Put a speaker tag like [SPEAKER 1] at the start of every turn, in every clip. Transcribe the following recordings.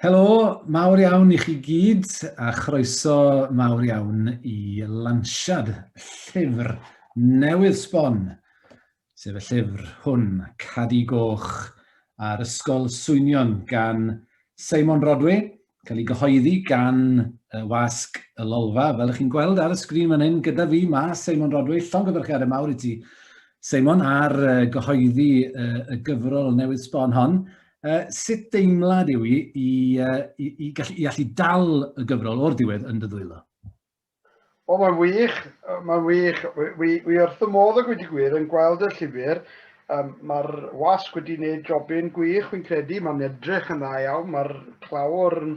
[SPEAKER 1] Helo, mawr iawn i chi gyd a chroeso mawr iawn i lansiad llyfr newydd sbon, sef y llyfr hwn, Cadi Goch a'r Ysgol Swynion gan Simon Rodway cael ei gyhoeddi gan y wasg y lolfa, fel ych chi'n gweld ar y sgrin fan hyn, gyda fi, mae Seimon Rodwy, llongyfarchiadau mawr i ti, Seimon, ar gyhoeddi y gyfrol newydd sbon hon. Uh, sut deimlad yw i i, uh, i, i, gallu, i allu dal y gyfrol o'r diwedd yn dy ddwylo?
[SPEAKER 2] O, mae'n wych, mae'n wych. Wi, wi wrth y modd ag wedi gwir yn gweld y llyfr. Um, Mae'r wasg wedi gwneud jobyn gwych, fi'n credu. Mae'n edrych yn dda iawn, mae'r clawr yn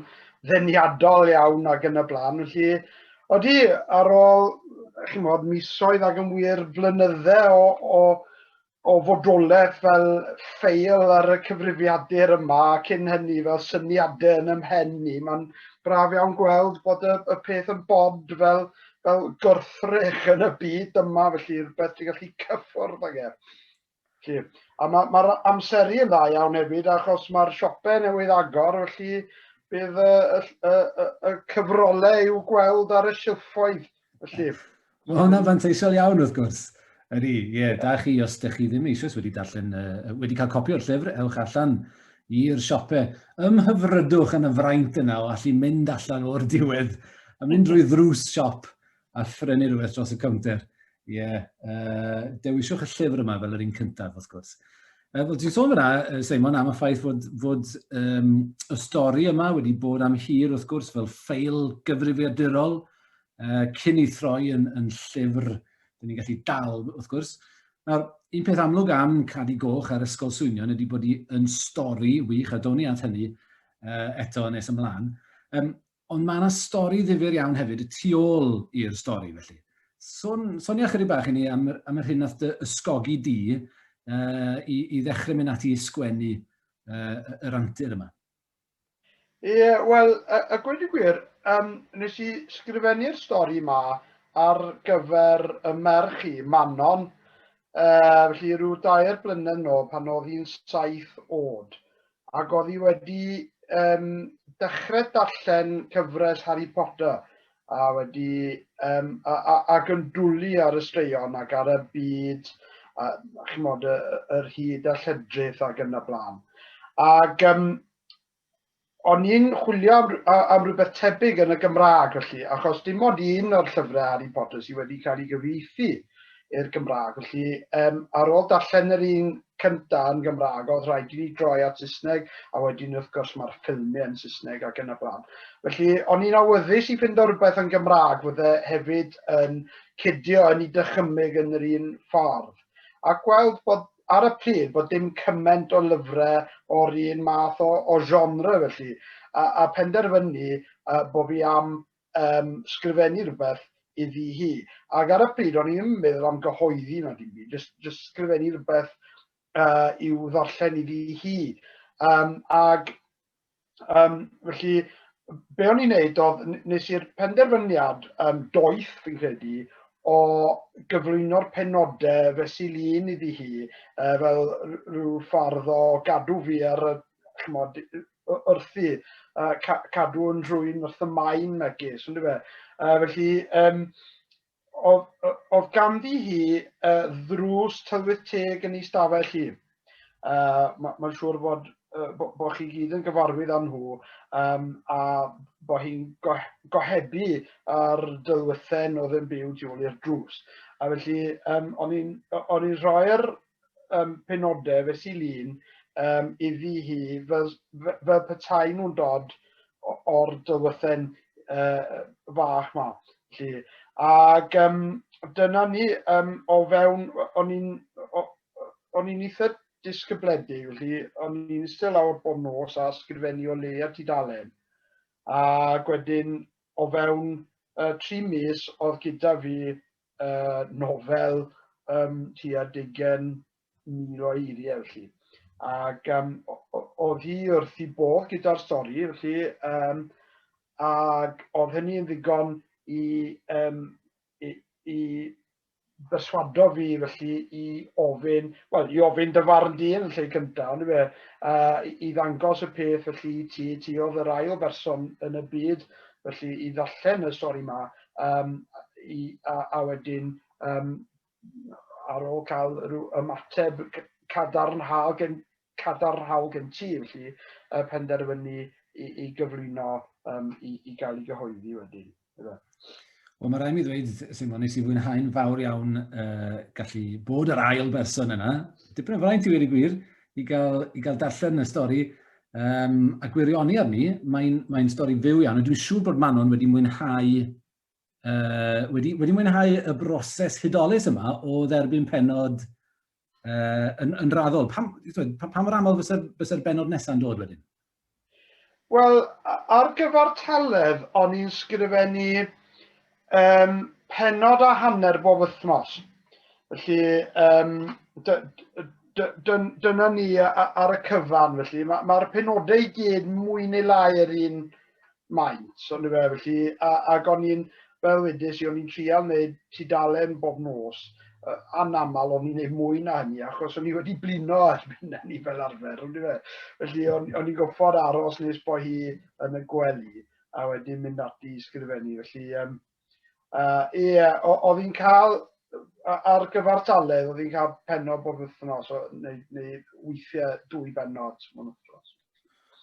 [SPEAKER 2] ddeniadol iawn ac yn y blaen. Felly, odi, ar ôl, chi'n modd, misoedd ac yn wir flynydde o, o o fodolaeth fel ffeil ar y cyfrifiadur yma, cyn hynny fel syniadau yn ymhen ni. Mae'n braf iawn gweld bod y, y peth yn bod fel, fel gorthrech yn y byd yma, felly rhywbeth ti'n gallu cyffwrdd ag e. Felly, a mae'r ma, ma amseru yn dda iawn hefyd, achos mae'r siopau newydd agor, felly bydd y, y, y, y cyfrolau i'w gweld ar y silffoedd Felly... Mae hwnna'n
[SPEAKER 1] fanteisiol iawn, wrth gwrs. Ydy, ie, yeah, da chi, os ydych chi ddim eisiau wedi darllen, uh, wedi cael copi o'r llyfr, ewch allan i'r siope. Ymhyfrydwch yn y fraint yna o allu mynd allan o'r diwedd a mynd drwy ddrws siop a phrynu rhywbeth dros y cownter. Ie, yeah, uh, dewisiwch y llyfr yma fel yr un cyntaf, wrth gwrs. Uh, Wel, ti'n sôn fyna, Seimon, am y ffaith fod, fod um, y stori yma wedi bod am hir, wrth gwrs, fel ffeil gyfrifiadurol, uh, cyn ei throi yn, yn llyfr, dyn ni'n gallu dal, wrth gwrs. Nawr, un peth amlwg am Cadi Goch a'r Ysgol Swynion ydy bod hi yn stori wych, a down ni at hynny uh, eto nes ymlaen. Um, Ond mae yna stori ddifyr iawn hefyd y tu ôl i'r stori, felly. Son, sonia chydig bach i ni am, am yr hyn nath dy ysgogi di uh, i, i ddechrau mynd ati i sgwennu uh, yr antur yma. Ie,
[SPEAKER 2] yeah, wel, a, a gweud y gwir, um, nes i sgrifennu'r stori yma ar gyfer y merch i, Manon, uh, felly rhyw dair blynedd nôl pan oedd hi'n saith oed. ac oedd hi wedi um, dechrau darllen cyfres Harry Potter a wedi um, a, a, ac yn dwlu ar y straeon ac ar y byd a, chymod, y, yr hyd a lledrith ac yn y blaen. Ac um, o'n i'n chwilio am, am rhywbeth tebyg yn y Gymraeg felly, achos dim ond un o'r llyfrau Harry Potter sydd wedi cael ei gyfeithi i'r Gymraeg. Felly, um, ar ôl darllen yr un cynta yn Gymraeg, oedd rhaid i ni droi at Saesneg, a wedyn wrth gwrs mae'r ffilmiau yn Saesneg ac yn y blaen. Felly, o'n i'n awyddus i fynd o rhywbeth yn Gymraeg, fydde hefyd yn cydio yn ei dychymyg yn yr un ffordd. A gweld bod ar y pryd bod dim cymaint o lyfrau o'r un math o, o genre felly, a, a penderfynu uh, bod fi am um, sgrifennu rhywbeth iddi hi. Ac ar y pryd, o'n i'n meddwl am gyhoeddi na dim byd, just, just sgrifennu rhywbeth uh, i'w ddarllen iddi hi. Um, ac um, felly, be o'n i'n neud oedd, nes i'r penderfyniad um, doeth, fi'n credu, o gyflwyno'r penodau fe sy'n un iddi hi, uh, fel rhyw ffordd o gadw fi ar y chmod, wrthi, uh, ca cadw yn rhwy'n wrth y maen megis, ynddo fe? Uh, felly, um, oedd, oedd ganddi hi uh, ddrws tywydd teg yn ei stafell hi. Uh, Mae'n ma siŵr bod uh, bod bo chi gyd yn gyfarwydd â nhw um, a bod hi'n go gohebu ar dylwythen oedd yn byw tu ôl i'r drws. A felly, um, o'n i'n rhoi'r um, penodau fe sy'n lun um, iddi hi fel, fel petai nhw'n dod o'r dylwythen uh, fach ma. Lli. Ac um, dyna ni um, o fewn, o'n i'n o'n i'n eitha disgybledig, felly o'n i'n eistedd lawr bob nos a sgrifennu o leia tudalen. A wedyn o fewn uh, tri mis oedd gyda fi uh, nofel um, tua digen mil o eiriau, felly. Ac um, oedd hi wrth i bod gyda'r stori, felly, um, ac oedd hynny yn ddigon i, um, i, i berswado fi felly i ofyn, wel, i ofyn dy farn di yn y lle cyntaf, ond fe, uh, i ddangos y peth felly ti, ti oedd yr ail berson yn y byd, felly i ddallen y stori yma, um, i, a, a wedyn um, ar ôl cael rhyw ymateb cadarnhaol gen, cadarnhaol gen ti, felly y penderfynu i, i gyflwyno um, i, i gael ei gyhoeddi wedyn. Wel,
[SPEAKER 1] mae rhaid mi ddweud, Simon, nes i fwynhau'n fawr iawn uh, gallu bod yr ail berson yna. Dipyn o fraint i wedi gwir i gael, i gael darllen y stori um, a gwirioni arni, mae'n mae stori fyw iawn, a dwi'n siŵr bod Manon wedi mwynhau uh, wedi, wedi mwynhau y broses hudolus yma o dderbyn penod uh, yn, yn raddol. Pam, pa, pa mor aml fysa'r fysa benod nesaf yn dod wedyn?
[SPEAKER 2] Wel, ar gyfer telef, o'n i'n sgrifennu Um, penod a hanner bob wythnos. Felly, um, dyna ni ar y cyfan, felly mae'r ma, penodau i gyd mwy neu lai yr un maint, so ni fe, felly, a, ac o'n i'n, fel wedys i, o'n i'n trial wneud tudalen bob nos, anaml o'n i'n gwneud mwy na hynny, achos o'n i wedi blino ar fyna ni fel arfer, o'n i fe. Felly, o'n, i'n goffod aros nes bod hi yn y gwely. a wedyn mynd ati i sgrifennu. Felly, um, uh, yeah, oedd hi'n cael, ar gyfer taledd, oedd hi'n cael penod bob wythnos, neu, neu weithiau dwy benod.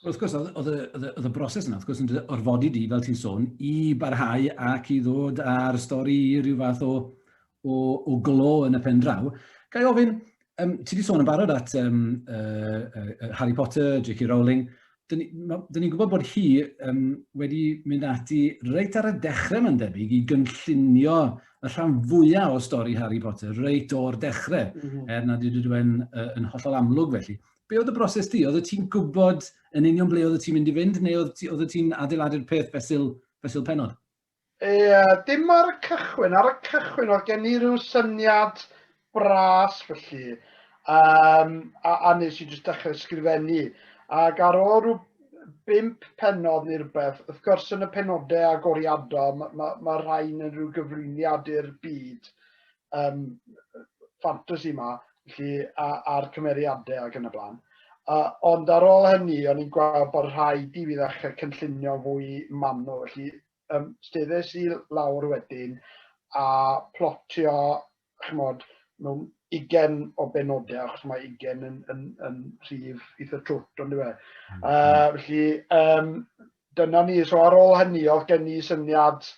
[SPEAKER 2] Wrth gwrs,
[SPEAKER 1] oedd y broses yna, wrth gwrs, yn orfodi di, fel ti'n sôn, i barhau ac i ddod â'r stori i rhyw fath o, o, o glo yn y pen draw. Gai ofyn, um, ti wedi sôn yn barod at um, uh, uh, Harry Potter, J.K. Rowling, dyn ni'n ni gwybod bod hi um, wedi mynd ati reit ar y dechrau mae'n debyg i gynllunio y rhan fwyaf o stori Harry Potter reit o'r dechrau, mm -hmm. er nad ydw i'n uh, yn hollol amlwg felly. Be oedd y broses di? Oedd ti'n gwybod yn union ble oedd ti'n mynd i fynd, neu oedd ti'n adeiladu'r peth fesul, fesul penod? Ie,
[SPEAKER 2] dim ar y cychwyn. Ar y cychwyn oedd gen i ryw syniad bras felly. Um, a, a nes i jyst dechrau sgrifennu. Ac ar ôl rhyw bimp penod neu rhywbeth, wrth gwrs yn y penodau agoriadol, mae ma, ma rhain yn rhyw gyflwyniad i'r byd um, ffantasi yma, felly, a'r cymeriadau ac yn y blaen. Uh, ond ar ôl hynny, o'n i'n gweld bod rhaid i fi ddechrau cynllunio fwy manwl. Felly, um, steddes i lawr wedyn a plotio, chymod, mewn ugen o benodau, achos mae ugen yn, yn, yn rhif eitha trwt, ond dwi e. Mm. Uh, felly, um, dyna ni. So ar ôl hynny, oedd gen i syniad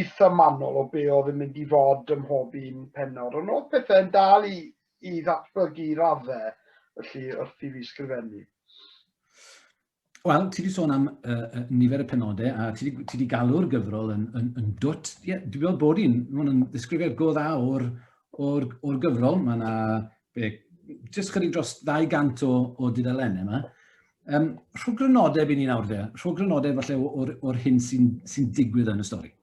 [SPEAKER 2] eitha manwl o be oedd yn mynd i fod ym mhob un penod, ond oedd pethau'n dal i, i ddatblygu i raddau, felly wrth i fi sgrifennu.
[SPEAKER 1] Wel, ti wedi sôn am uh, nifer y penodau a ti wedi, ti wedi galw'r gyfrol yn, yn, yn dwt. Ie, yeah, dwi'n meddwl bod hi'n, mae'n ddisgrifiad go dda o'r, or, or gyfrol. Mae yna be, jyst chydig dros 200 o, o dudalennau yma. Um, rhwg grynodeb i ni nawr fe, rhwg grynodeb falle o'r, or hyn sy'n sy digwydd yn y stori.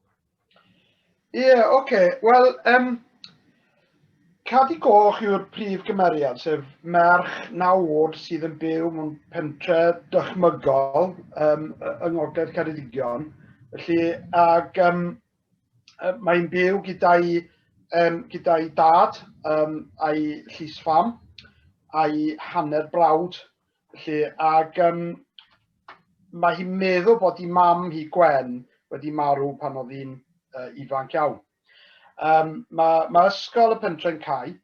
[SPEAKER 1] Ie, yeah, oce.
[SPEAKER 2] Okay. Wel, um, Cadi Goch yw'r prif gymeriad, sef merch naw oed sydd yn byw mewn pentre dychmygol um, yng Ngogledd Ceredigion. Felly, ac um, mae'n byw gyda'i um, gyda dad um, a'i llys fam a'i hanner brawd. Felly, ac um, mae hi'n meddwl bod i mam hi Gwen wedi marw pan oedd hi'n uh, ifanc iawn. Um, mae, mae ysgol y pentre'n cael,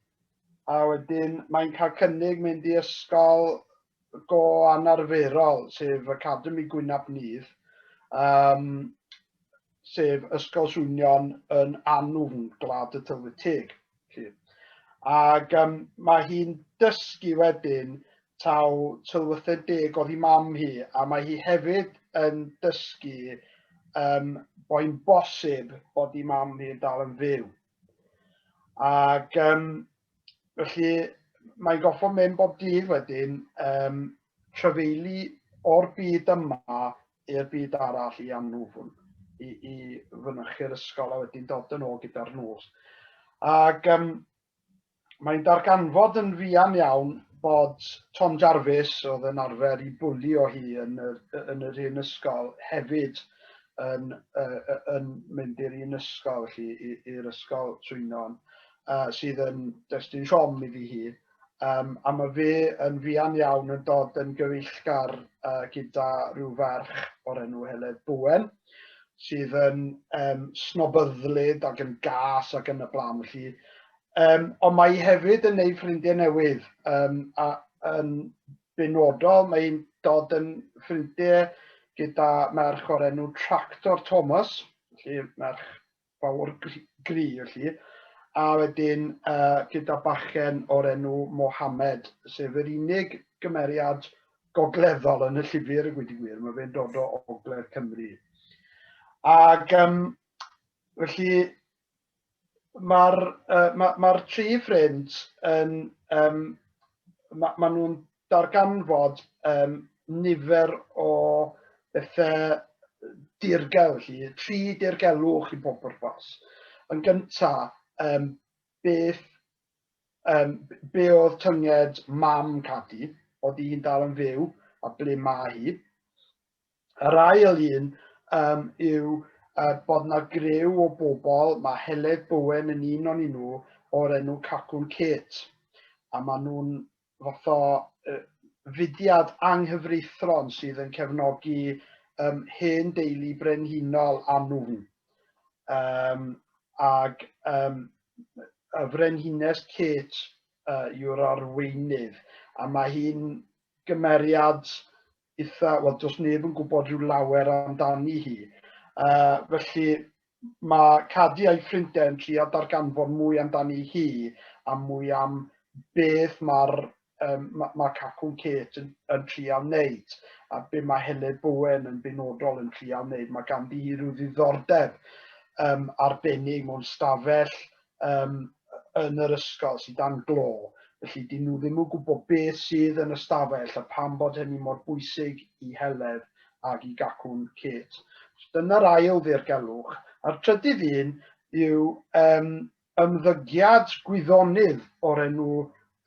[SPEAKER 2] a wedyn mae'n cael cynnig mynd i ysgol go anarferol, sef Academi Gwynab Nudd, um, sef Ysgol Swynion yn Anwfn, Gwlad y Tylwyth Teg. Ac um, mae hi'n dysgu wedyn taw tylwythau deg oedd hi mam hi, a mae hi hefyd yn dysgu um, boi'n bosib bod hi mam hi'n dal yn fyw. Ac um, Felly mae'n goffo mynd bob dydd wedyn, um, trafeili o'r byd yma i'r byd arall i anwfwn, i, i fynychu'r ysgol a wedyn dod yn ôl gyda'r nos. Ac um, mae'n darganfod yn fuan iawn bod Tom Jarvis, oedd yn arfer i bwli o hi yn yr, yn yr un ysgol, hefyd yn, uh, yn mynd i'r un ysgol, felly i'r ysgol Swynon. uh, sydd yn destun siom i fi hi, um, a mae fe yn fian iawn yn dod yn gyfeillgar uh, gyda rhyw ferch o'r enw Heledd Bwen, sydd yn um, snobyddlyd ac yn gas ac yn y blaen. Felly, um, ond mae hi hefyd yn ei ffrindiau newydd um, a yn benodol mae hi'n dod yn ffrindiau gyda merch o'r enw Tractor Thomas, felly merch fawr gry felly, a wedyn uh, gyda bachen o'r enw Mohammed, sef yr unig gymeriad gogleddol yn y llyfr y gwyd i gwir, mae fe'n dod o ogledd Cymru. Ac um, felly mae'r uh, ma, ma tri ffrind yn, um, mae ma nhw'n darganfod um, nifer o bethau dirgel, chi, tri dirgelwch i bob pwrpas. Yn gyntaf, um, beth, um, be oedd tynged mam Cadi, oedd hi'n dal yn fyw a ble mae hi. Yr ail un um, yw uh, bod yna grew o bobl, mae Heledd Bowen yn un o'n nhw o'r enw Cacwn Kate, a maen nhw'n fath o uh, fudiad anghyfreithron sydd yn cefnogi um, hen deulu brenhinol a nhw'n. Um, ag um, y frenhines Kate uh, yw'r arweinydd, a mae hi'n gymeriad eitha, wel, does neb yn gwybod rhyw lawer amdani hi. Uh, felly mae Cadi a'i ffrindiau yn trio darganfod mwy amdani hi a mwy am beth mae'r um, mae ma Cacwn Kate yn, yn trio wneud a be mae Hele Bowen yn benodol yn trio wneud. Mae ganddi hi rhyw ddiddordeb um, arbennig mewn stafell yym yn yr ysgol sydd dan glo, felly 'dyn nhw ddim yn gwybod beth sydd yn y stafell a pam bod hynny mor bwysig i Heledd ac i Gacwn Kate. Dyna'r ail ddirgelwch. A'r trydydd un yw um, ymddygiad gwyddonydd o'r enw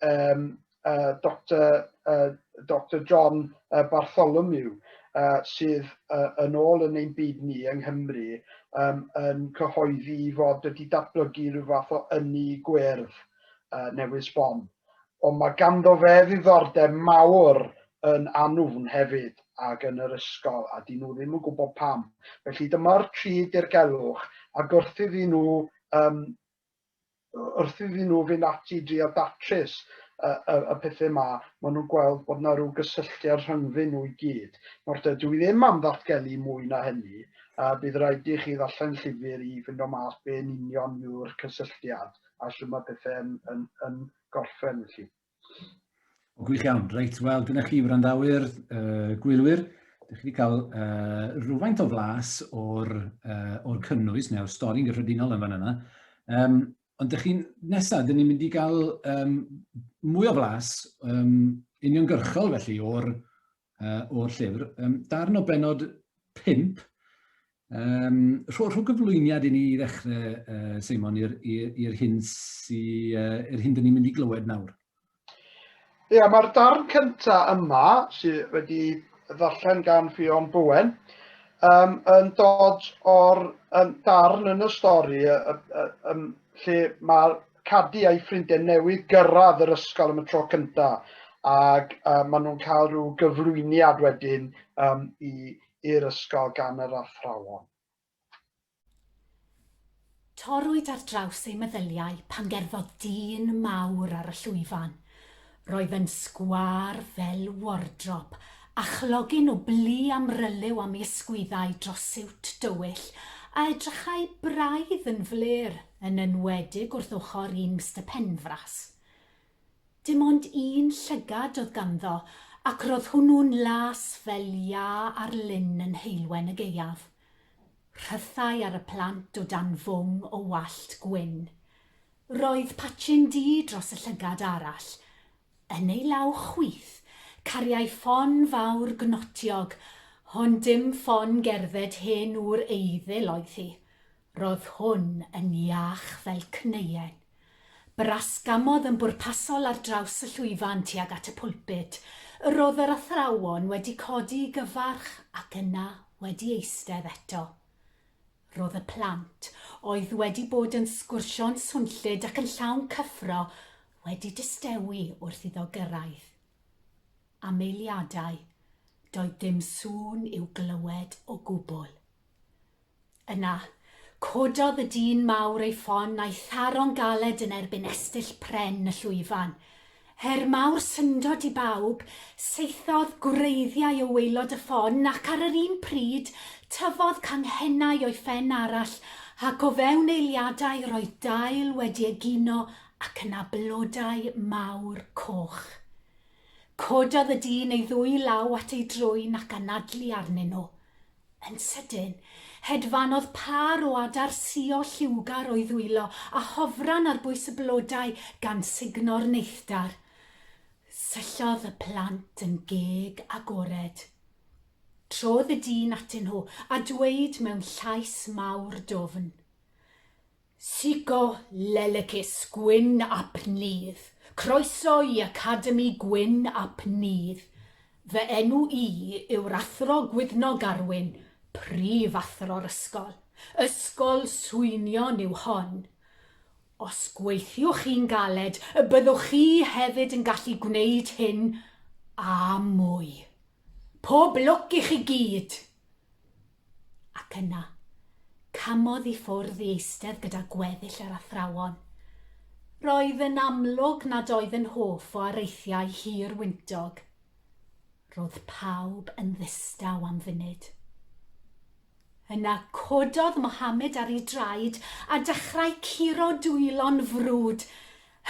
[SPEAKER 2] um, uh, Dr, uh, Dr John uh, Bartholomew, uh, sydd uh, yn ôl yn ein byd ni yng Nghymru um, yn cyhoeddi fod wedi datblygu rhyw fath o ynni gwerdd uh, newydd sbon. Ond mae ganddo fe ddiddordeb mawr yn anwfn hefyd ac yn yr ysgol a dyn nhw ddim yn gwybod pam. Felly dyma'r tri dirgelwch a gwrthyd i nhw um, wrth iddyn nhw fynd ati i drio datrys y, y, y pethau yma, maen nhw'n gweld bod yna rhyw gysylltiad rhyngddyn nhw i gyd. Nawr, dydw i ddim am ddatgelu mwy na hynny, a bydd rhaid i chi ddarllen llyfr i fynd o mas be'n union yw'r cysylltiad a sy'n mae pethau yn, yn, yn gorffen felly. O,
[SPEAKER 1] gwych iawn. Reit, wel, dyna chi wrandawyr, uh, gwylwyr. Dych chi wedi cael uh, rhywfaint o flas o'r, uh, or cynnwys neu'r stori'n gyffredinol yn fan yna. Um, ond dych chi'n nesaf, dyn ni'n mynd i gael um, mwy o flas um, uniongyrchol felly o'r uh, o'r llyfr. Um, darn o benod 5, um, rho, rho gyflwyniad i ni i ddechrau, uh, Simon, i'r hyn, sy, uh, er hyn dyn ni'n mynd i glywed nawr. Ie,
[SPEAKER 2] yeah, mae'r darn cyntaf yma, sydd wedi ddarllen gan Ffion Bowen, um, yn dod o'r um, darn yn y stori um, um, lle mae'r Cadi a'i ffrindiau newydd gyrraedd yr ysgol am y tro cyntaf ac uh, maen nhw'n cael rhyw gyflwyniad wedyn um, i'r ysgol gan yr athrawon.
[SPEAKER 3] Torrwyd ar draws ei meddyliau pan gerddodd dyn mawr ar y llwyfan. Roedd yn sgwâr fel wardrop, a chlogyn o blu amryliw a mi ysgwyddai dros siwt dywyll a edrychai braidd yn flêr, yn enwedig wrth ochr un Mister Penfras. Dim ond un llygad oedd ganddo, ac roedd hwnnw'n las fel iâ ar lyn yn heulwen y gaeaf. Rhythai ar y plant o dan fwng o wallt gwyn. Roedd patchyn du dros y llygad arall. Yn ei law chwith, cariai ffon fawr gnotiog, hon dim ffon gerdded hen ŵr eiddil oedd hi. Ro'dd hwn yn iach fel cneuen. Brasgamodd yn bwrpasol ar draws y llwyfan tuag at y pulpud. Yr o'dd yr athrawon wedi codi i gyfarch ac yna wedi eistedd eto. Roedd y plant, oedd wedi bod yn sgwrsio'n swnllyd ac yn llawn cyffro, wedi distewi wrth iddo gyrraedd. Am eiliadau, doedd dim sŵn i'w glywed o gwbl. Yna, cododd y dyn mawr ei ffon a'i tharo'n galed yn erbyn estyll pren y llwyfan. Her mawr syndod i bawb, saethodd gwreiddiau o waelod y ffon ac ar yr un pryd tyfodd canghennau o'i phen arall ac o fewn eiliadau roedd dail wedi egino ac yna blodau mawr coch. Cododd y dyn ei ddwy law at ei drwyn ac anadlu arnyn nhw. Yn sydyn, hedfanodd pâr o adar suo lliwgar o'i ddwylo a hofran ar bwys y blodau gan sugno'r neithdar. Syllodd y plant yn geg agored. Trodd y dyn atyn nhw a dweud mewn llais mawr dwfn, Sico lelycus Gwyn ap Nudd, croeso i Academi Gwyn ap Nudd. Fy enw i yw'r Athro Gwyddno Garwyn, Prif Athro'r Ysgol. Ysgol swynion yw hon. Os gweithiwch chi'n galed, y byddwch chi hefyd yn gallu gwneud hyn a mwy. Pob lwc i chi gyd! Ac yna, camodd i ffwrdd i eistedd gyda gweddill yr athrawon. Roedd yn amlwg nad oedd yn hoff o areithiau hir wyntog. Roedd pawb yn ddistaw am funud. Yna cododd Mohammed ar ei draed a dechrau curo dwylo'n frwd.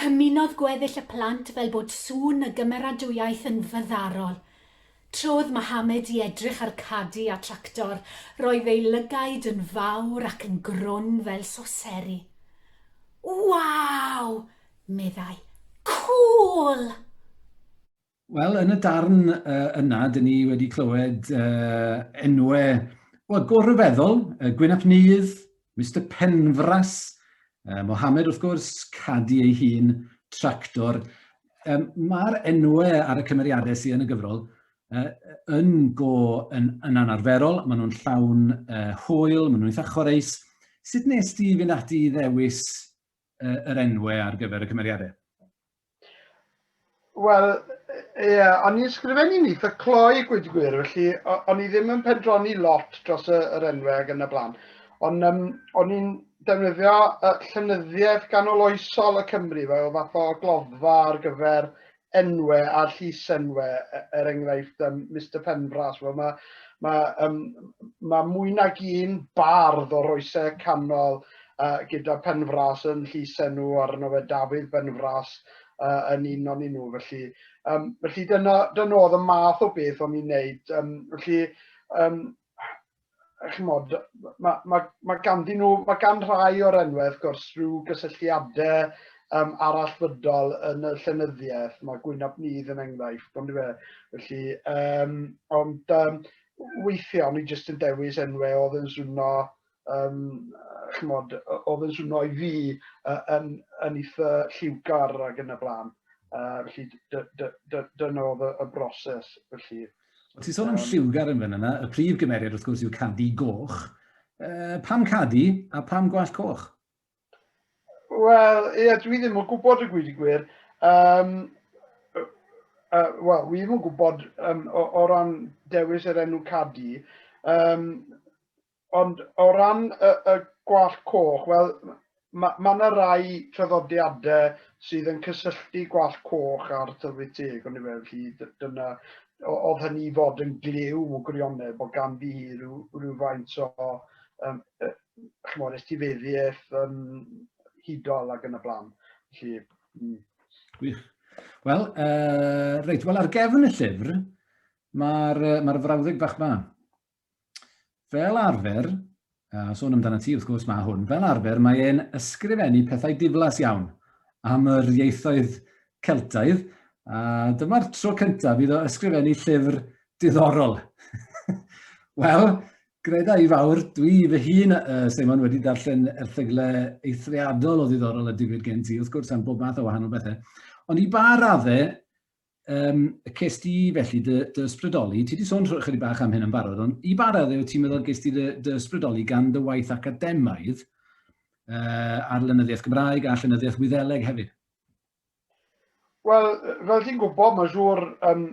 [SPEAKER 3] Hymunodd gweddill y plant fel bod sŵn y gymeradwyaeth yn fyddarol. Tra oedd Mohammed i edrych ar Cadi a Tractor, roedd ei lygaid yn fawr ac yn grwn fel soseri. Waw! meddai. Cŵl!
[SPEAKER 1] Wel, yn y darn yna, dyn ni wedi clywed enwau, wel, go ryfeddol, Gwyn ap Nudd, Mister Penfras, uh, Mohamed wrth gwrs, Cadi ei hun, Tractor. Um, Mae'r enwau ar y cymeriadau sydd yn y gyfrol uh, yn go yn, yn anarferol, maen nhw'n llawn uh, hwyl, maen nhw'n eitha chwareus. Sut nes ti fynd ati i ddewis yr enwau ar gyfer y cymeriadau?
[SPEAKER 2] Wel, ie, yeah, o'n i'n sgrifennu ni eitha cloi gwyd gwir, felly o'n i ddim yn pendroni lot dros y, yr enwau ag yn y blaen. Ond um, o'n i'n defnyddio uh, llenyddiaeth ganol oesol y Cymru fel fath o gloddfa ar gyfer enwau a'r llysenwau, e- er enghraifft um, Mr Penfras, wel mae ma, um, ma mwy nag un bardd o'r oesau canol uh, gyda Penfras yn llysenw arno fe Dafydd Benfras uh, yn un o'n nhw. Felly, um, felly dyna, dyna oedd y math o beth o'n i'n neud. Um, felly, um, chymod, mae, mae, mae ganddyn nhw, mae gan rhai o'r enwau, wrth gwrs, rhyw gysylltiadau um, arallfydol yn y llenyddiaeth. Mae Gwynab Nydd yn enghraifft, ond fe. Felly, um, ond um, weithiau, ni jyst yn dewis enwau oedd yn swno Yym chimod, oedd yn swno i fi yn yn eitha lliwgar ac yn y blaen. Uh, felly dyna oedd y, y broses felly. O, ti'n
[SPEAKER 1] sôn am lliwgar yn fan yna, y prif gymeriad wrth gwrs yw Cadi Goch. Uh, pam Cadi a pam Gwallt Coch? Wel,
[SPEAKER 2] ie, dwi ddim yn gwybod y gwyd i gwir. Um, uh, Wel, wi ddim yn gwybod um, o, o ran dewis yr enw Cadi. Um, Ond o ran y, y gwallt coch, wel, mae ma yna rai traddodiadau sydd yn cysylltu gwallt coch a'r tylwyth teg, ond i fe, felly dyna, oedd hynny i fod yn glyw o gwirionedd, bod ganddi hi rhyw, rhywfaint o, um, e, chymod, estifeddiaeth um, hudol ac yn y blaen. Felly, mm. Gwych.
[SPEAKER 1] Wel, uh, reit, wel ar gefn y llyfr, mae'r ma, r, ma r frawddeg bach ma. Fel arfer, a sôn amdana ti wrth gwrs mae hwn, fel arfer mae e'n ysgrifennu pethau diflas iawn am yr ieithoedd Celtaidd, a dyma'r tro cyntaf iddo ysgrifennu llyfr diddorol. Wel, greda i fawr, dwi fy hun, uh, Simon, wedi darllen erthygle eithriadol o ddiddorol a digwydd gen ti, wrth gwrs, am bob math o wahanol bethau. Ond i ba raddau, um, ces di felly dy, dy ysbrydoli, ti wedi sôn chydig bach am hyn yn barod, ond i ba raddau ti'n meddwl ges di dy, dy ysbrydoli gan dy waith academaidd uh, ar lenyddiaeth Gymraeg a llenyddiaeth Wyddeleg hefyd?
[SPEAKER 2] Wel, fel ti'n gwybod, mae'n siŵr, um,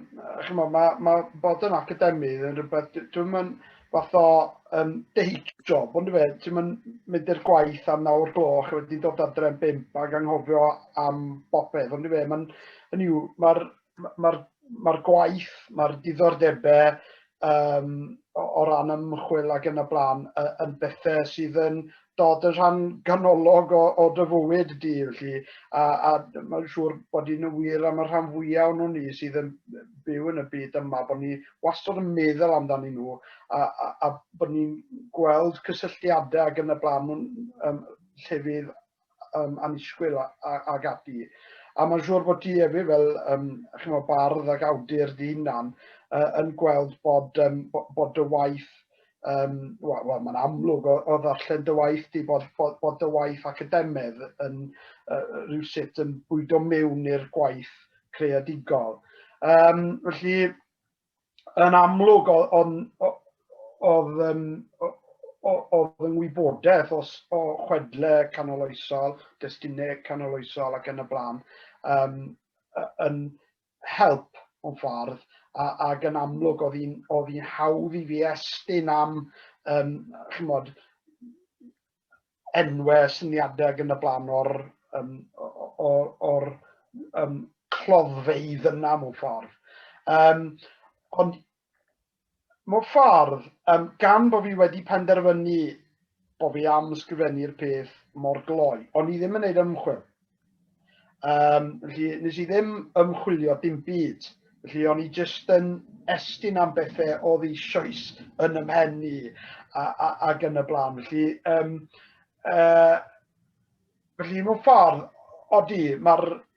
[SPEAKER 2] chyma, mae, mae bod yn academydd yn rhywbeth, dwi'n mynd, fath o um, deig job, ond fe, ti'n mynd i'r gwaith am nawr gloch, a wedyn dod adre yn bimp ac anghofio am bopeth, ond fe, mae'n, hynny yw, mae'r ma ma gwaith, mae'r diddordebau um, o, o ran ymchwil ac yn y blaen yn bethau sydd yn dod yn rhan ganolog o, o dy fywyd di, felly, a, a mae'n siŵr bod hi'n wir am y rhan fwyaf o'n ni sydd yn byw yn y byd yma, bod ni wastad yn meddwl amdanyn nhw a, a, a bod ni'n gweld cysylltiadau ac yn y blaen nhw'n um, llefydd um, anisgwyl ag ati. A mae'n siŵr bod ti hefyd fel um, chymod, bardd ac awdur di hunan uh, yn gweld bod, um, bod dy waith Um, Wel, well, mae'n amlwg o, o ddarllen dy waith di bod, bod, bod dy waith academedd yn uh, rhywsut yn bwydo mewn i'r gwaith creadigol. Um, felly, yn amlwg o'n oedd um, oedd yn wybodaeth os, o chwedle canoloesol, destunau canoloesol ac yn y blaen, um, yn help mewn ffordd, a, ac yn amlwg oedd hi'n oedd hi'n hawdd i fi estyn am um, chymod, enwau, syniadau ac yn y blaen o'r, um, o'r, or, um, cloddfeidd yna mewn ffordd. Um, ond mewn ffordd, um, gan bod fi wedi penderfynu bod fi am sgrifennu'r peth mor gloi, ond i ddim yn gwneud ymchwil. Um, felly, nes i ddim ymchwilio dim byd. Felly, o'n i jyst yn estyn am bethau o ddi sioes yn ymhen i ac yn y blaen. Felly, um, uh, felly mewn ffordd, odi, mae'r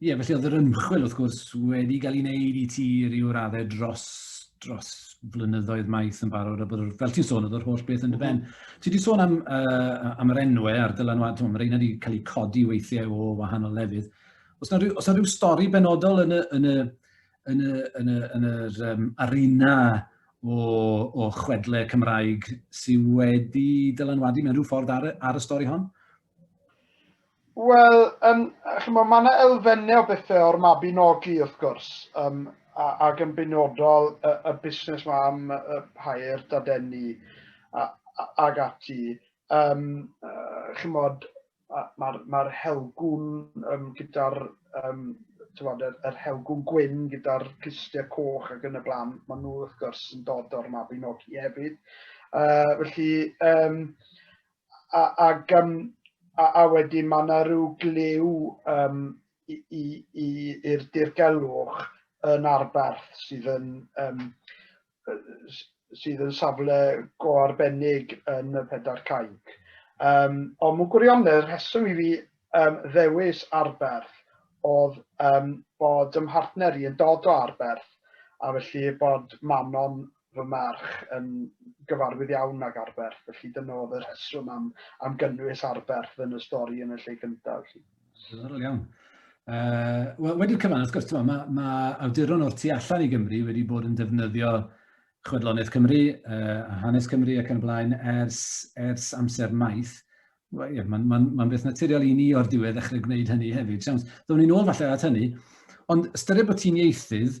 [SPEAKER 1] Ie, yeah, felly oedd yr ymchwil, wrth gwrs, wedi cael ei wneud i ti ryw raddau dros, dros flynyddoedd maith yn barod, a bod, fel ti'n sôn, oedd yr holl beth yn dy ben. Mhm. Ti wedi sôn am, uh, am yr enwau a'r dylanwad, mae rheina wedi cael eu codi weithiau o wahanol lefydd. Os yna rhyw, os rhyw stori benodol yn y, yn y, yn y, yn y, yn yr um, arena o, o chwedle Cymraeg sydd wedi dylanwadu mewn rhyw ffordd ar, ar y stori hon? Wel,
[SPEAKER 2] um, chymod, mae yna elfennau o bethau o'r mabinogi, wrth gwrs, um, ac yn benodol y, y busnes mae am y pair dadeni ag ati. Um, uh, chymod, mae'r ma helgwn um, gyda'r um, tyfod, yr, yr helgwn gwyn gyda'r clustiau coch ac yn y blaen, maen nhw wrth gwrs yn dod o'r mabinogi hefyd. Uh, felly, um, a, ag, um, a, a wedyn mae yna rhyw glyw um, i'r dirgelwch yn arberth sydd yn, um, sydd yn safle go arbennig yn y pedair cainc. Um, ond mwyn gwirionedd, rheswm i fi um, ddewis arberth oedd um, bod ym mhartner i yn dod o arberth a felly bod Manon fy merch yn gyfarwydd iawn ag Arberth, felly dyna oedd y rheswm am, am gynnwys Arberth yn y stori yn y lle gyntaf. Diddorol iawn.
[SPEAKER 1] Uh, Wel, wedi'r cyfan, wrth gwrs, mae ma awduron o'r tu allan i Gymru wedi bod yn defnyddio chwedloniaeth Cymru uh, a hanes Cymru ac yn blaen ers, ers amser maith. Well, yeah, Mae'n ma, ma, beth naturiol i ni o'r diwedd ddechrau gwneud hynny hefyd. Siams, ddwn ni'n ôl falle at hynny. Ond ystyried bod ti'n ieithydd,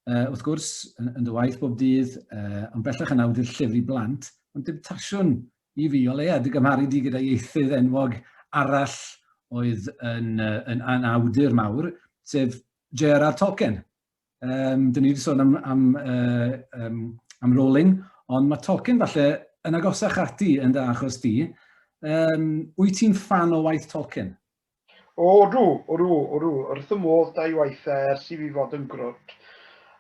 [SPEAKER 1] uh, wrth gwrs, yn, yn dy waith bob dydd, uh, ond bellach yn awdur llefru blant, ond dim tasiwn i fi o leia, dy gymharu di gyda ieithydd enwog arall oedd yn, uh, yn, yn awdur mawr, sef J.R.R. Tolkien. Um, dyn ni wedi sôn am, am, uh, um, am Rowling, ond mae Tolkien falle yn agosach ati yn dy achos di. Um, wyt ti'n fan o waith Tolkien? O,
[SPEAKER 2] odw, odw, odw. Yr wrth y modd da i waith e ers i fi fod yn grwt.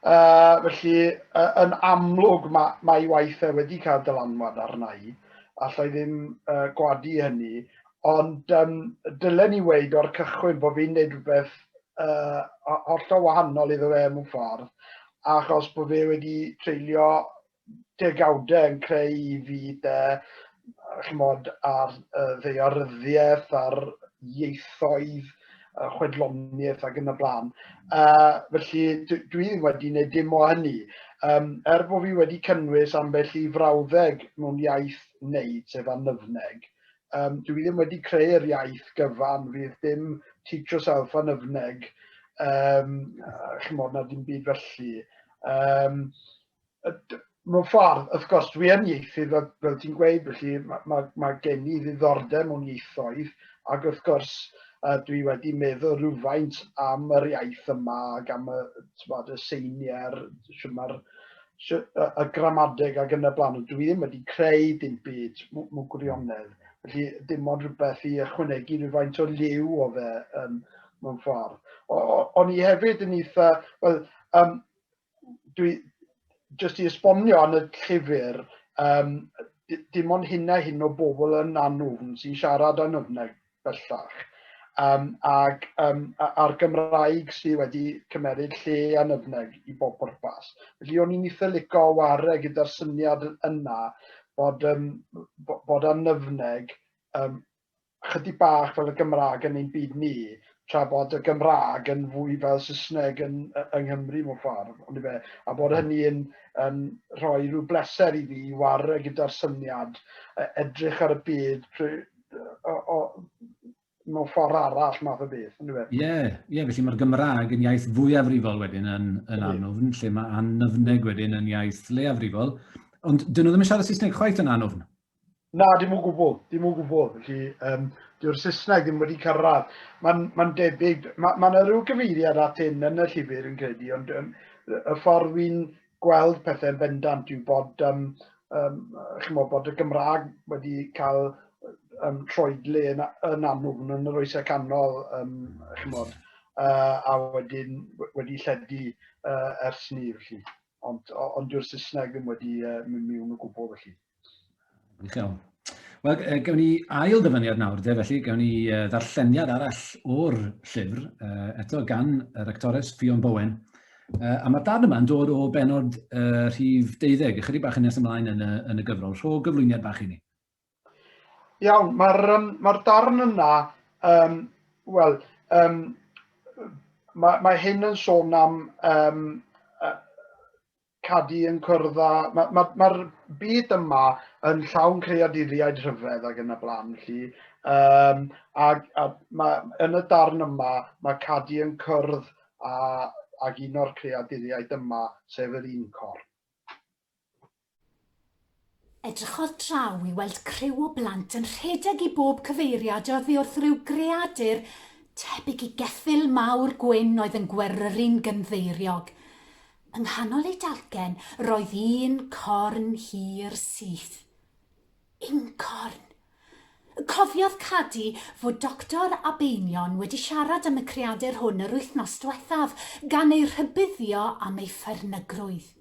[SPEAKER 2] Uh, felly, uh, yn amlwg mae, mae i waith e wedi cael dylanwad arna i. Alla i ddim uh, gwadu hynny. Ond um, dylen ni weid o'r cychwyn bod fi'n neud rhywbeth uh, hollol wahanol iddo fe mewn ffordd achos bod fe wedi treulio degawdau yn creu i fi de, chymod, ar uh, ddeoryddiaeth, ar ieithoedd, uh, chwedloniaeth ac yn y blaen. Uh, felly dwi, dwi ddim wedi gwneud dim o hynny. Um, er bod fi wedi cynnwys ambell i frawddeg mewn iaith wneud, sef anyfneg, um, dwi ddim wedi creu'r iaith gyfan, fydd dim teach yourself anyfneg, um, chymod, na dim byd felly. Um, mewn ffordd, wrth gwrs, dwi yn ieithydd, fel, fel ti'n gweud, felly mae, ma, ma gen i ddiddordeb mewn ieithoedd, ac wrth gwrs, uh, dwi wedi meddwl rhywfaint am yr iaith yma ac am y, tywed, y seiniau'r, mae'r y gramadeg ac yn y blaen, ond dwi ddim wedi creu dim byd mewn gwirionedd. Felly dim ond rhywbeth i ychwanegu rhywfaint o liw o fe um, mewn ffordd. O'n i hefyd yn eitha, well, um, dwi jyst i esbonio yn y llyfr, um, dim ond hyn a hyn o bobl yn anwfn sy'n siarad yn yfnau bellach. Um, ac um, a'r Gymraeg sydd wedi cymeryd lle yn yfneg i bob pwrpas. Felly o'n i'n eitha licio ware gyda'r syniad yna bod, um, bod annyfneg um, chydig bach fel y Gymraeg yn ein byd ni, tra bod y Gymraeg yn fwy fel Saesneg yn, yng Nghymru mewn ffordd, ond i fe, a bod hynny yn, yn rhoi rhyw bleser i fi i warre gyda'r syniad, e, edrych ar y byd prwy, o, o, mewn ffordd arall math o beth, yn dweud. Ie, yeah, yeah, felly
[SPEAKER 1] mae'r Gymraeg yn iaith fwyafrifol wedyn yn, yn anofn, lle mae annyfneg wedyn yn iaith leiafrifol, ond dyn nhw ddim yn siarad Saesneg chwaith yn anofn. Na, dim o
[SPEAKER 2] gwbl, dim o gwbl. Felly, um, dyw'r Saesneg ddim wedi cyrraedd. Mae'n ma debyg, mae ma yna rhyw gyfeiriad at hyn yn y llyfr yn credu, ond um, y ffordd wy'n gweld pethau'n bendant yw bod, um, um, chymod, bod y Gymraeg wedi cael um, troedle yn, yn anwfn yn yr oesau canol, um, chymod, uh, a wedyn wedi lledu uh, ers ni, felly. Ond, ond dyw'r Saesneg ddim wedi uh, mynd miwn o gwbl, felly. Diolch iawn.
[SPEAKER 1] Wel, uh, gawn ni ail ddyfyniad nawr, de, felly gawn ni uh, ddarlleniad arall o'r llyfr, uh, eto gan yr actores Ffion Bowen. Uh, a mae'r darn yma'n dod o benod uh, rhif 12, ychydig bach yn nes ymlaen yn y, yn y gyfrol. Rho gyflwyniad bach i ni.
[SPEAKER 2] Iawn, mae'r um, ma darn yna, um, wel, um, mae, mae hyn yn sôn am um, uh, cadi yn cwrdd â... Mae'r ma, ma, ma byd yma yn llawn creaduriaid rhyfedd ac yn y blaen, felly. Um, a, a ma, yn y darn yma, mae cadi yn cwrdd â, ag un o'r creaduriaid yma, sef yr un cor.
[SPEAKER 3] Edrychodd draw i weld criw o blant yn rhedeg i bob cyfeiriad oddi wrth ryw greadur tebyg i geffyl mawr gwyn oedd yn gweryru'n gynddeiriog. Yng nghanol eu dalcen roedd un corn hir syth. Uncorn! Cofiodd Cadi fod Doctor Abeinion wedi siarad am y creadur hwn yr wythnos dwethaf, gan ei rhybuddio am ei phernygrwydd.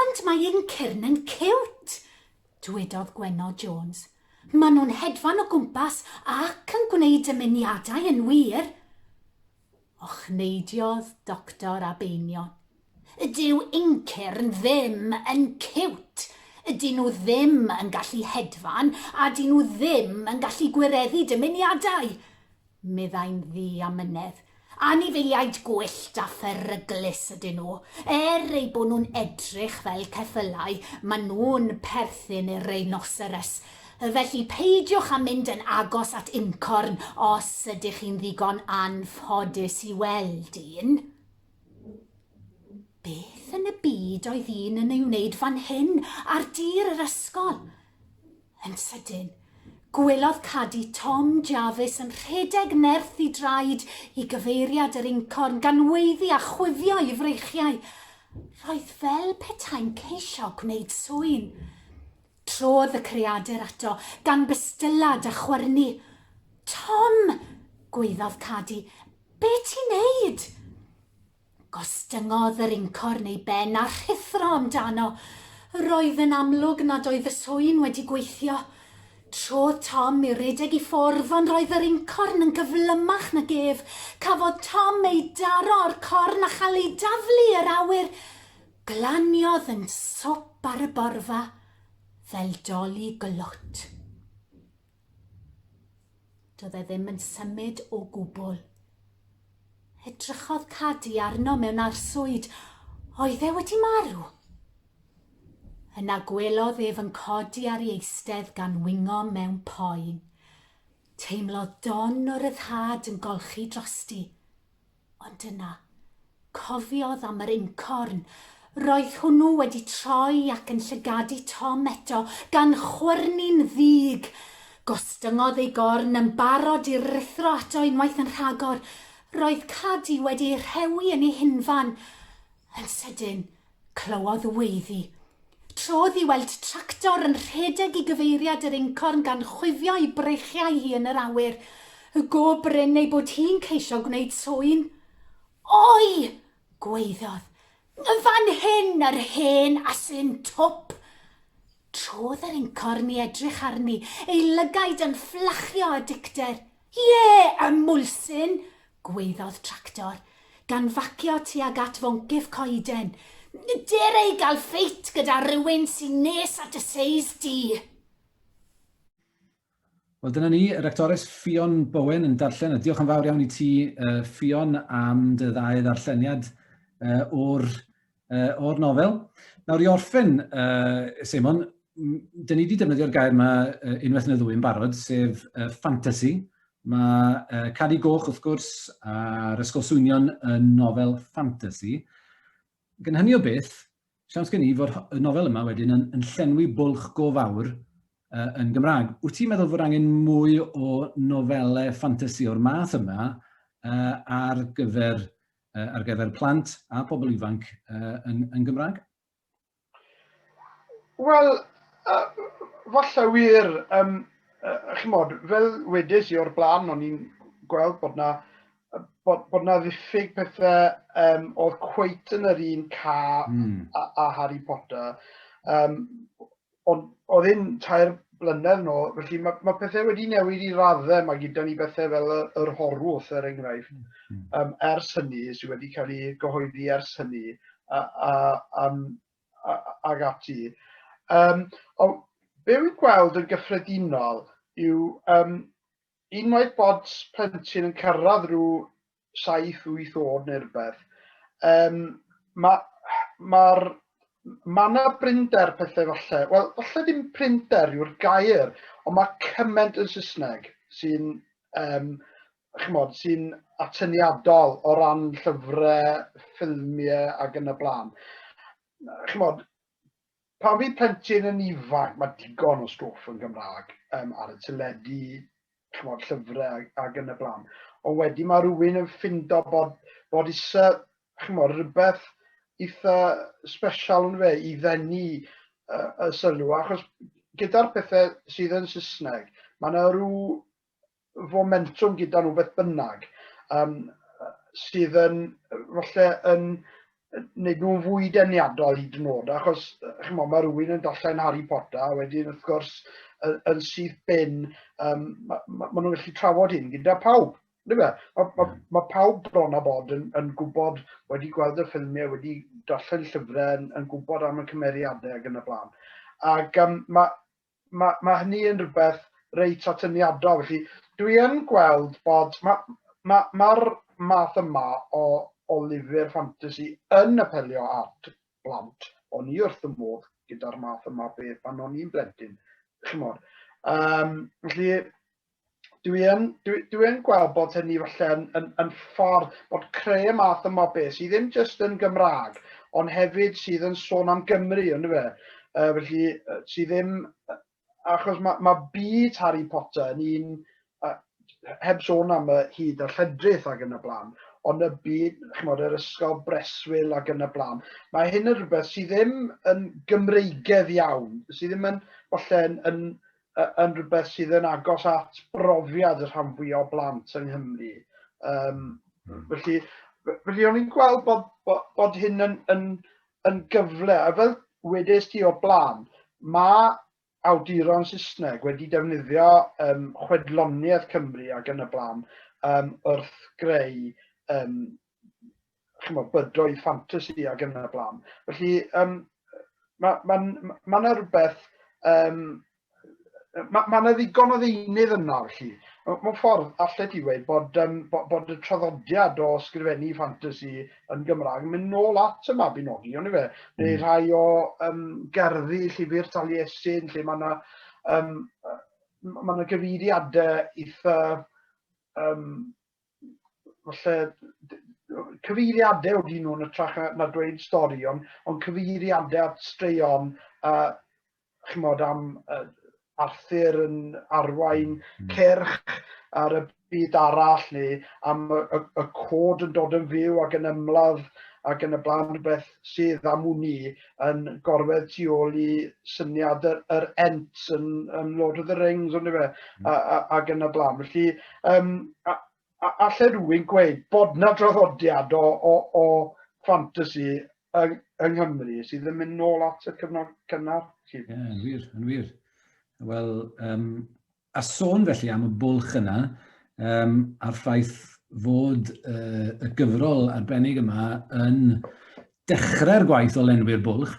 [SPEAKER 3] Ond mae ein cyrn yn ciwt! dwedodd Gwenno Jones. Maen nhw'n hedfan o gwmpas ac yn gwneud dymuniadau yn wir! Ochneidiodd Doctor Abeinion. Dyw ein cyrn ddim yn ciwt! Dyn nhw ddim yn gallu hedfan a dyn nhw ddim yn gallu gwireddu dymuniadau! meddai'n ddu a mynedd. Anifeiliaid gwyllt a pheryglus ydyn nhw. Er eu bod nhw'n edrych fel ceffylau, maen nhw'n perthyn i'r rheinosyrys. Felly, peidiwch â mynd yn agos at uncorn os ydych chi'n ddigon anffodus i weld un. Beth yn y byd oedd un yn ei wneud fan hyn ar dir yr ysgol? Yn sydyn, gwelodd Cadi Tom Jarvis yn rhedeg nerth i draed i gyfeiriad yr incorn gan weiddi a chwifio i freichiau. Roedd fel petai'n ceisio gwneud sŵyn. Trodd y creadur ato, gan bystylad a chwyrnu. Tom! gwaeddodd Cadi. Be ti'n neud? Gostyngodd yr incorn ei ben a rhuthro amdano. Roedd yn amlwg nad oedd y swyn wedi gweithio. Trodd Tom i redeg i ffwrdd ond roedd yr incorn yn gyflymach nag ef. Cafodd Tom ei daro o'r corn a chael ei daflu i'r awyr. Glaniodd yn swp ar y borfa fel doli glwt. Doedd e ddim yn symud o gwbl. Edrychodd Cadi arno mewn arswyd. Oedd e wedi marw? Yna gwelodd ef yn codi ar ei eistedd gan wingo mewn poen. Teimlodd don o ryddhad yn golchi drosti. Ond yna, cofiodd am yr incorn. Roedd hwnnw wedi troi ac yn llygadu Tom eto, gan chwyrnu'n ddig. Gostyngodd ei gorn yn barod i ruthro ato unwaith yn rhagor. Roedd Cadi wedi ei rhewi yn ei hunfan. Yn sydyn, Clywodd weiddi. Trodd i weld tractor yn rhedeg i gyfeiriad yr incorn gan chwifio'i breichiau hi yn yr awyr, y go brin ei bod hi'n ceisio gwneud sŵyn. Oi! gwaeddodd. Y fan hyn, yr hen asyn twp! Trodd yr incorn i edrych arni, ei lygaid yn fflachio â dicter. Ie, ymwlsyn! gwaeddodd Tractor, gan facio tuag at foncyff coeden. Dere i gael ffeit gyda rhywun sy'n nes at y seis di!
[SPEAKER 1] Wel, dyna ni, yr actores Ffion Bowen yn darllen, a diolch yn fawr iawn i ti, uh, Ffion, am dy ddau ddarlleniad uh, o'r uh, o'r nofel. Nawr i orffen, uh, Simon, dyn ni wedi defnyddio'r gair yma uh, unwaith yn y ddwy yn barod, sef uh, fantasy. Mae uh, Cadi Goch, wrth gwrs, a'r Ysgol Swynion yn nofel fantasy. Gan hynny o beth, siawns gen i fod y nofel yma wedyn yn, yn llenwi bwlch go fawr uh, yn Gymraeg. Wyt ti'n meddwl fod angen mwy o nofelau fantasy o'r math yma uh, ar gyfer ar gyfer plant a pobl ifanc yn, yn Gymraeg? Wel, uh,
[SPEAKER 2] falle wir, um, uh, chymod, fel wedes i o'r blaen, o'n i'n gweld bod na, bod, bod na ddiffyg pethau um, oedd cweit yn yr un ca mm. a, a Harry Potter. Um, Ond oedd hyn tair blynedd nôl, felly mae, mae pethau wedi newid i raddau, mae gyda ni bethau fel y, yr horwth er enghraifft, mm. um, hmm. ers hynny, sydd wedi cael ei gyhoeddi ers hynny, a, a, a, a, ag ati. Um, o, be wy'n gweld yn gyffredinol yw um, unwaith bod plentyn yn cyrraedd rhyw saith, wyth oed neu rhywbeth, um, mae'r ma, ma na brinder pethau falle, wel, falle ddim prinder yw'r gair, ond mae cymaint yn Saesneg sy'n, um, chymod, sy'n atyniadol o ran llyfrau, ffilmiau ac yn y blaen. Chymod, Pan fydd plentyn yn ifanc, mae digon o stwff yn Gymraeg um, ar y teledu, chymod, llyfrau ac yn y blaen. Ond wedi mae rhywun yn ffindo bod, bod isa, chymod, rhywbeth eitha special yn fe i ddenu uh, y sylw, achos gyda'r pethau sydd yn Saesneg, mae yna rhyw fomentwm gyda nhw beth bynnag, um, sydd yn, falle, yn wneud nhw'n fwy deniadol i dynod, achos chymod, mae rhywun yn darllen Harry Potter, a wedyn, wrth gwrs, yn, yn syth bin, um, mae ma, ma nhw'n gallu trafod hyn gyda pawb. Mae ma, ma, ma pawb bron a bod yn, yn gwybod, wedi gweld y ffilmiau, wedi darllen llyfrau, yn, yn gwybod am y cymeriadau ac yn y blaen. Ac um, mae ma' ma' hynny yn rhywbeth reit atyniadol. Felly dwi yn gweld bod ma' ma' ma'r math yma o o lyfr ffantasi yn apelio at blant. O'n i wrth fy modd gyda'r math yma beth pan o'n i'n blentyn, chimod? Yym felly dwi yn, dwi, dwi yn gweld bod hynny falle yn, yn, yn ffordd bod creu y math yma o beth sydd ddim jyst yn Gymraeg, ond hefyd sydd yn sôn am Gymru, ynddo fe? Uh, felly, uh, sydd ddim... Achos mae, mae byd Harry Potter yn un... Uh, heb sôn am y hyd a lledrith ac yn y blaen, ond y byd, chymod, yr ysgol breswyl ac yn y blaen. Mae hyn yn rhywbeth sydd ddim yn Gymreigedd iawn, sydd ddim yn, falle, yn, yn yn rhywbeth sydd yn agos at brofiad y rhan fwy o blant yng Nghymru. Um, mm. Felly, felly o'n i'n gweld bod, bod, bod hyn yn, yn, yn gyfle, a fel wedys ti o blaen, mae awduron Saesneg wedi defnyddio um, chwedloniaeth Cymru ac yn y blaen um, wrth greu um, chymod, bydoedd ffantasi ac yn y blaen. Felly, um, mae yna ma, ma, ma rhywbeth, um, mae ma yna ddigon o ddeunydd yna, felly. Mae'n ffordd allai ti wedi bod, um, bod, bod y traddodiad o sgrifennu ffantasi yn Gymraeg yn mynd nôl at y Mabinogi, ond i fe, mm. neu rhai o um, gerddi llyfr Taliesin, lle mae yna um, mae yna gyfeiriadau eitha um, falle cyfeiriadau o dyn nhw yn y trach na, na dweud stori, ond on cyfeiriadau at straeon a uh, chymod am uh, Arthur yn arwain mm. cerch ar y byd arall neu am y, y, y cod yn dod yn fyw ac yn ymladd ac yn y blaen rhywbeth sydd am wn i yn gorwedd tu ôl i syniad yr, yr ent yn, yn Lord of the Rings, ond efe, mm. ac yn y blaen. Felly, um, a, a, allai rhywun gweud bod na draddodiad o, o, o fantasy yng, yng Nghymru sydd yn mynd nôl at y cyfnod cynnar? Ie, yeah, yn wir,
[SPEAKER 1] yn wir. Wel, um, A sôn felly am y bwlch yna, um, a'r ffaith fod uh, y gyfrol arbennig yma yn dechrau'r gwaith o lenwi'r bwlch,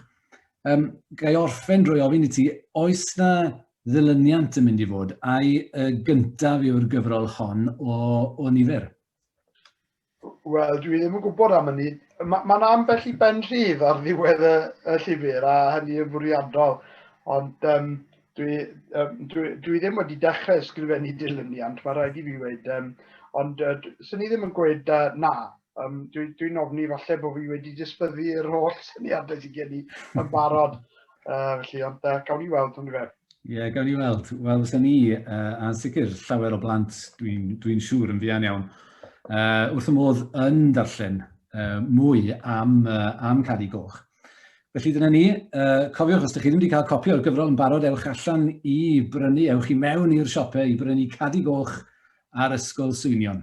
[SPEAKER 1] um, gai orffen drwy ofyn i ti, oes na ddilyniant yn mynd i fod, a'i y gyntaf yw'r gyfrol hon o, o nifer?
[SPEAKER 2] Wel, dwi ddim yn gwybod am hynny. Mae ma ambell i ben rhydd ar ddiwedd y, y llyfr, a hynny yn fwriadol. Ond um, dwi, um, dwi, dwi ddim wedi dechrau ysgrifennu dilyniant, mae rhaid i fi wedi. Um, ond uh, sy'n ni ddim yn gweud uh, na. Um, Dwi'n dwi ofni falle bod fi wedi disbyddu yr holl syniadau sy'n gen i yn barod. Uh, felly, ond uh, gawn ni weld, ond fe. Ie, yeah, gawn ni weld.
[SPEAKER 1] Wel, fysa ni, uh, a sicr llawer o blant, dwi'n dwi, dwi siŵr yn fuan iawn, uh, wrth y modd yn darllen uh, mwy am, uh, am Cadi Goch. Felly dyna ni, uh, cofiwch os ydych chi ddim wedi cael copi o'r gyfrol yn barod, ewch allan i brynu, ewch i mewn i'r siopau i brynu Cadi Goch ar Ysgol Swynion.